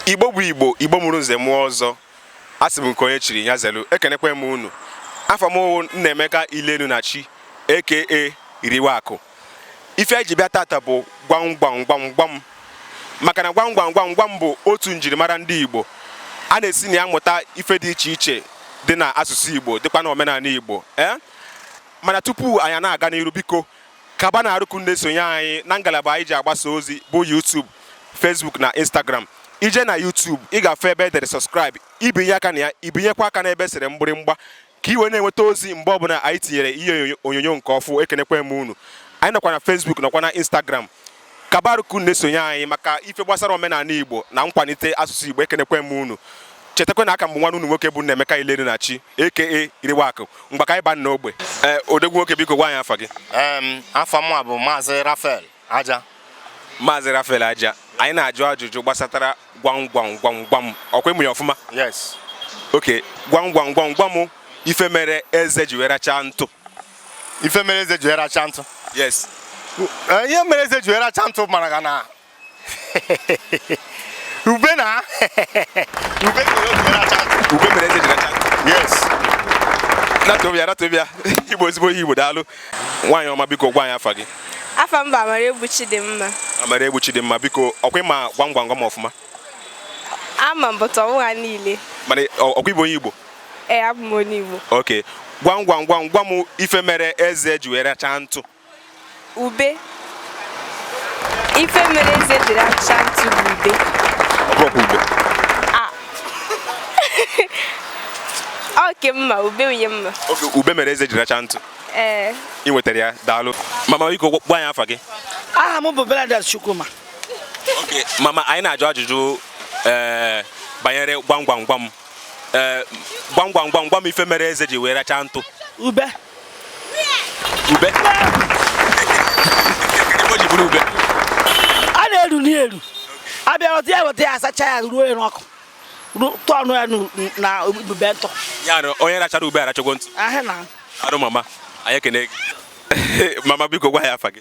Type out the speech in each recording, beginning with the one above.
igbo bụ igbo igbo mụrụ nze mụọ ọzọ asị m nke onye chiri ya zelu ekenekwa m unu afa m bụ Nnaemeka Ilenunachi aka Iriwakụ ife anyị ji bịa tata bụ gwam gwam gwam gwam maka na gwam gwam gwam gwam bụ otu njirimara ndị Igbo a na-esi na ya mụta ife dị iche iche dị na asụsụ Igbo dịkwa na omenanị Igbo ee mana tupu anyị na-aga n'iru biko kaba na arụ ka unu na-esonye anyị na ngalaba anyị ji agbasa ozi bụ YouTube Facebook na Instagram i je na YouTube ị ga-afụ ebe e dere subscribe i binye aka na ya i binyekwa aka n'ebe e sere mgbịrịmgba ka i wee na-enweta ozi mgbe ọbụna anyị tinyere ihe onyonyo nke ọfụ ekenekwe m unu anyị nọkwa na Facebook nọkwa na Instagram kaba arụ ka unu na-esonye anyị maka ife gbasara omenanị Igbo na nkwanite asụsụ Igbo ekenekwe m unu chetakwa na aka m bụ nwanne unu nwoke bụ Nnaemeka Ilenunachi aka Iriwakụ ngwa ka anyị baa n'ogbe ee eh, odogwu nwoke biko gwa anyị afa gị afa mụ bụ Maazị Rafael aja maazị Rafael aja anyị na-ajụ ajụjụ gbasatara gwam gwam gwam gwam ọkwa ị ma ya ọfụma yes okay gwam gwam gwam gwa m ife mere eze ji wee rachaa ntụ ife mere eze ji wee rachaa ntụ yes eh, ihe mere eze ji wee rachaa ntụ mara ga na ube na ube mere eze ji rachaa ntụ ube mere eze ji rachaa ntụ yes natobia natobia ị bụ ezigbo onye igbo daalụ nwaanyị ọma biko gwa anyị afa gị afa m bụ Amaraegbu Chidimma Amaraegbu Chidimma biko ọkwa ị ma gwam gwam gwam ọfụma ama m but ọ wụghị ha niile mana ọkwa ị bụ onye igbo ee abụ m onye igbo okay gwam gwam gwam gwa m ife mere eze ji wee rachaa ntụ ube ife mere eze ji racha ntụ bụ ube ọ bụrụkwa ube oke mma ube unye mma okay ube mere eze ji racha ntụ ee ị nwetara ya daalụ mama biko gwa anyị afa gị aha m bụ Bernadette Chukwuma okay mama anyị na-ajụ ajụjụ ee eh, banyere gwam gwam gwam ee eh, gwam gwam gwam gwa m ife mere eze ji wee racha ntụ ube ube Ebe o ji bụrụ ube a na-eru ya eru a bịa ghọta ya weta ya a sachaa ya ruo ya n'ọkụ ru- tụọ ọnụ ya n'u- na ubube ntụ ya na onye rachara ube arachagwo ntụ ahụ daalụ mama anyị ekene gị mama biko gwa anyị afa gị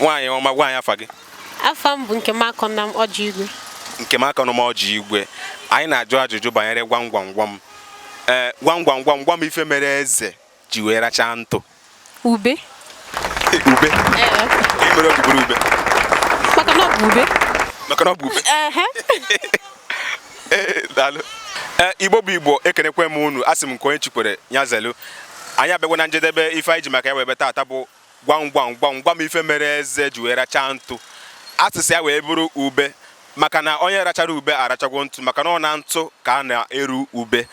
nwaanyị ọma gwa anyị afa gị afa m bụ Nkemakọnam Ọjị Igwe Nkemakọnam Ọjị Igwe anyị na-ajụ ajụjụ banyere gwam gwam gwam ee eh, gwam gwam gwam gwa m ife mere eze ji wee rachaa ntụ ube ube ife mere o ji bụrụ ube maka na ọ bụ ube maka na ọ bụ ube Eh, daalụ eh, Igbo bụ Igbo ekenekwe m unu asị m nke onye chikwere ya zelu anyị abịagwa na njedebe ife anyị ji maka ya wee bịa taata bụ gwam gwam gwam gwam ife mere eze ji wee rachaa ntụ asịsa ya wee bụrụ ube maka na onye rachara ube arachagwo ntụ maka na ọ na ntụ ka a na-eru ube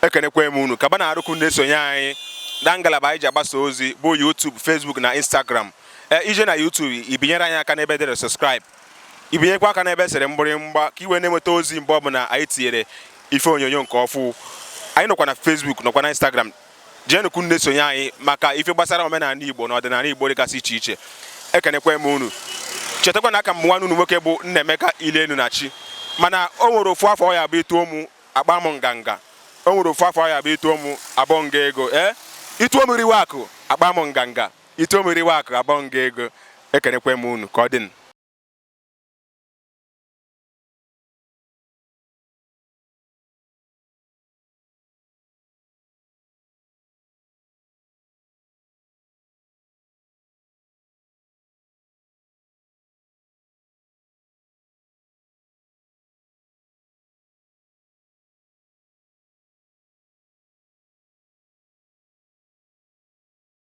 ekenekwe m unu gaba na arụkụ na-esonye anyị na ngalaba anyị ji agbasa ozi bụ YouTube Facebook na Instagram eh, i je na YouTube i binyere anyị aka n'ebe e dere subscribe i binyekwa aka n'ebe e sere mgbịrịmgba ka i wee na-enweta ozi mgbe ọbụla anyị tinyere ife onyonyo nke ọfụ anyị nọkwa na Facebook nọkwa na Instagram jeenụkwu na-esonye anyị maka ife gbasara omenala Igbo na ọdịnala Igbo dịgasị iche iche ekenekwa m unu chetakwa na aka m nwanne unu nwoke bụ Nnaemeka Ilenu na chi mana o nwere ofu afa ọ ya-abụ i tuo mụ akpaa m nganga o nwere ofu afa ọ ya-abụ i tuo mụ abọọ m gị ego ee eh? i tuo m Eriwe akụ akpaa m nganga I tuo m Eriwe akụ abọọ m gị ego ekenekwe m unu ka ọ dịnụ.